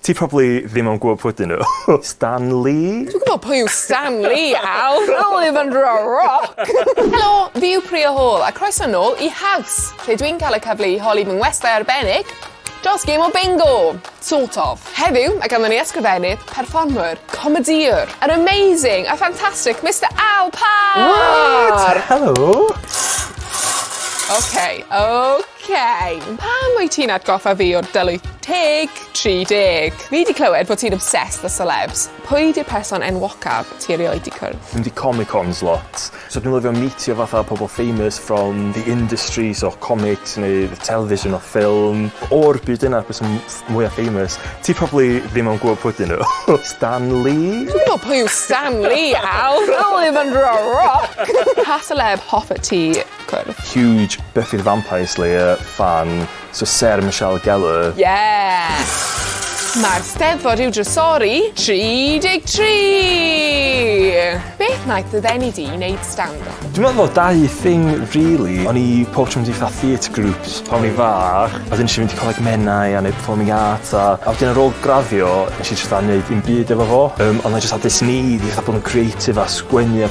Ti probably ddim yn gwybod pwy 'dyn nhw. Stan Lee? Dwi'n gwybod pwy yw Stan Lee, Al! Al yw fy nhra-roc! Helo, fi yw Priya Hall a croeso nôl i House, lle dwi'n cael y cyfle i holi fy ngwestai arbennig dros gêm o bingo! Sort of. Heddiw, mae ganddo ni ysgrifennydd, perfformwr, comedïwr, yr amazing, y ffantastig Mister Al Parr! What? Helo! Ok, ok. Cei! Pam wyt ti'n atgoffa fi o'r dylwyth teg 30? Fi 'di clywed bod ti'n obsessed â celebs. Pwy 'di'r person enwocaf ti erioed 'di cwrdd? Mynd i comic cons lot. So dwi'n lyfio meetio fatha pobol famous from the industry so comics neu television or film. O'r byd yna pwy sy'n ff- mwya famous? Ti probably ddim yn gwbo pwy 'dyn nhw. Stan Lee? Dwi'n gwbo pwy yw Stan Lee, Al! Al Ivan Rock! Pa seleb hoffet ti cwrdd. Huge Buffy the Vampire Slayer fan so Sarah Michelle Gellar. Yeah! Mae'r Steddfod i'w drysori 33! Beth wnaeth dy ddeni di wneud stand-up? Dwi'n meddwl fod dau thing really. O'n i pob tro mynd i fatha theatre groups pan o'n i'n fach. A wedyn nes i fynd i Coleg Menai a neud performing arts a a wedyn ar ôl graddio nes i jyst fatha neud dim byd efo fo. Yym ond o'n i jyst fatha does need i fatha bod yn creative a sgwennu a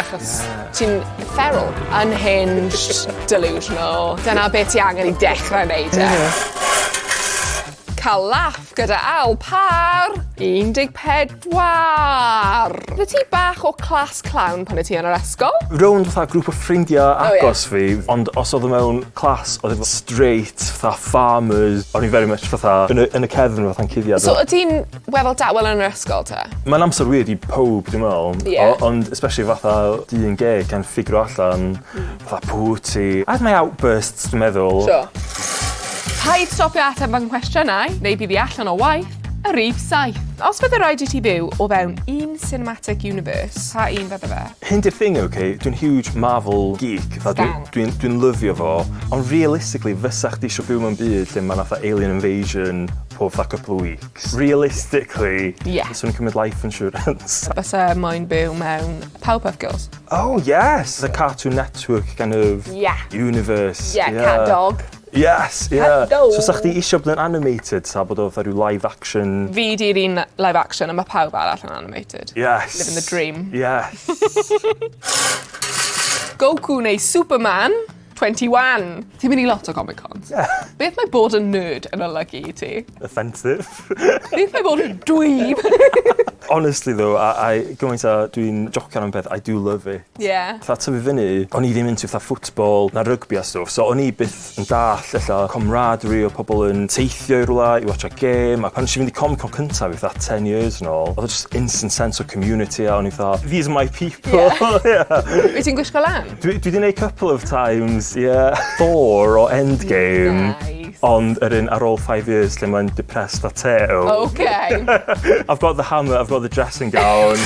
Achos ti'n feral. Unhinged, delusional. Dyna be ti angen i dechrau wneud e. Cael laff gyda ail par! 14! Oeddet ti bach o class clown pan oeddet ti yn yr ysgol? Rownd fatha grŵp o ffrindiau agos fi, ond os oedd o mewn class oedd e'n straight fatha farmers, o'n i very much fatha yn y cefn fatha'n cuddiad. So o't ti'n Wel fel da- wel yn yr ysgol t'e? Ma'n amser weird i powb dwi me'wl. Ie. O- ond especially fatha dyn gay can ffigro allan fatha pw' wyt ti. I 'ave my outbursts dwi'n meddwl. Sure. Paid stopio ateb fy nghwestiynau neu bydd i allan o waith. Y rhif saith. Os bydde raid i ti byw o fewn un cinematic universe, pa un fydde fe? Hyn 'di'r thing ok dwi'n huge Marvel geek fatha dwi... Stan. ...dwi'n dwi'n lyfio fo ond realistically fysa chdi isio byw mewn byd lle ma' 'na fatha alien invasion pob fatha couple o week? Thanks. Realistically. Ie. Fyswn i'n cymryd life insurance. Bysa moyn byw mewn Powerpuff Girls. Oh yes! The Cartoon Network kind of... Ie. ...universe. Ie, cat dog. Yes, ie. Cat dog. So 'sa chdi isio bod yn animated 'ta bod o fatha ryw live action? Fi 'di'r un live action a ma' pawb arall yn animated. Yes. Living the dream. Yes. Goku neu Superman. 21! Ti'n mynd i lot o Comic Cons. Beth mae bod yn nerd yn olygu i ti? Offensive. Beth mae bod yn dweeb? Honestly though, a, I, gymaint a dwi'n jocian am peth, I do love it. Ie. Fatha tyfu fyny, o'n i ddim into fatha football na rygbi a stwff, so o'n i byth yn dall ella comradery o pobl yn teithio i rwla i watsio gêm, a pan nes i fynd i Comic Con cynta fi fatha 10 years yn ôl, oedd o just instant sense o community a o'n i fatha, these are my people! Ie. Wyt ti'n gwisgo lan? Dwi, dwi di neud couple of times, ie. Yeah. Thor o Endgame. Nice. Ond yr un ar ôl five years lle mae'n depressed a teo. Okay. I've got the hammer, I've got the dressing gown.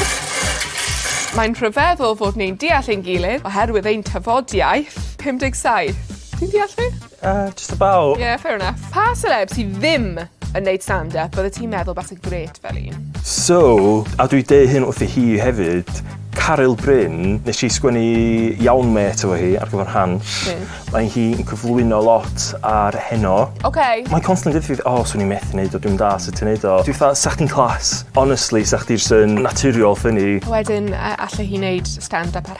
Mae'n rhyfeddol fod ni'n deall ein gilydd oherwydd ein tafodiaith. 57. Ti'n deall fi? Uh, just about. Yeah, fair enough. Pa celeb sydd ddim yn neud stand-up, bydde ti'n meddwl bas y gret fel un? So, a dwi deu hyn wrth i hi hefyd, Caryl Bryn, nes i sgwennu iawn met efo hi ar gyfer Hans. Mm. Mae hi'n cyflwyno lot ar heno. Okay. Mae'n constantly dweud fi, o, oh, swn i'n methu neud o, dwi'n da sut ti'n neud o. Dwi'n fatha, sa chdi'n clas. Honestly, sa chdi'r sy'n naturiol ffynnu. Wedyn, allai hi neud stand-up ar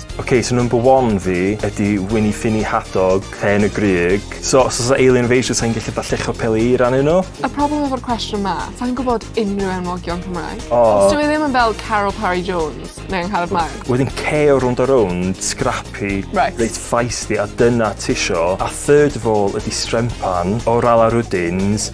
Ok, so number one fi ydi Wini Ffini Hadog, Llên y Grug. So os oes 'na alien invasion sai'n gallu fatha lluchio peli i rannu nhw? Y problem efo'r cwestiwn 'ma, sai'n gwybod unrhyw enwogion Cymraeg. O! Os dyw e ddim yn fel Carol Parry Jones neu Angharad Mark. Wedyn ceo rownd a rownd, scrappy. Reit. Reit feisty a dyna tisio. A third of all ydi strempan o Rala Rwdins.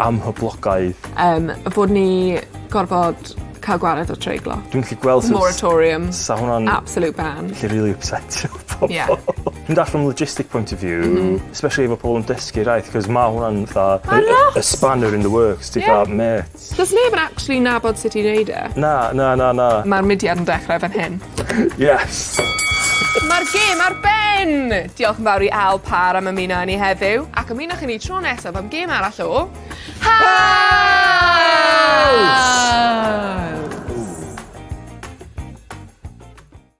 amhoblogaidd. Yym y bod ni gorfod ca'l gwared o treiglo. Dwi'm 'llu gweld sut... Moratorium. ...sa hwnna'n... Absolute ban. ...gallu rili ypsetio pobol. Ie. Dwi'n dall' from a logistic point of view... M-hm. ...especially efo pobol yn dysgu iaith 'c'os ma' hwnna'n fatha... Ma'n nuts. ...y y spanner in the works ti fatha... Ie. ...mêt. Do's neb yn actually nabod sut i neud e. Na na na na. Ma'r mudiad yn dechre fan hyn. Yes! Mae'r gêm ar ben! Diolch yn fawr i Al Parr am ymuno â ni heddiw, ac ymunwch â ni tro nesaf am gêm arall o... Haul!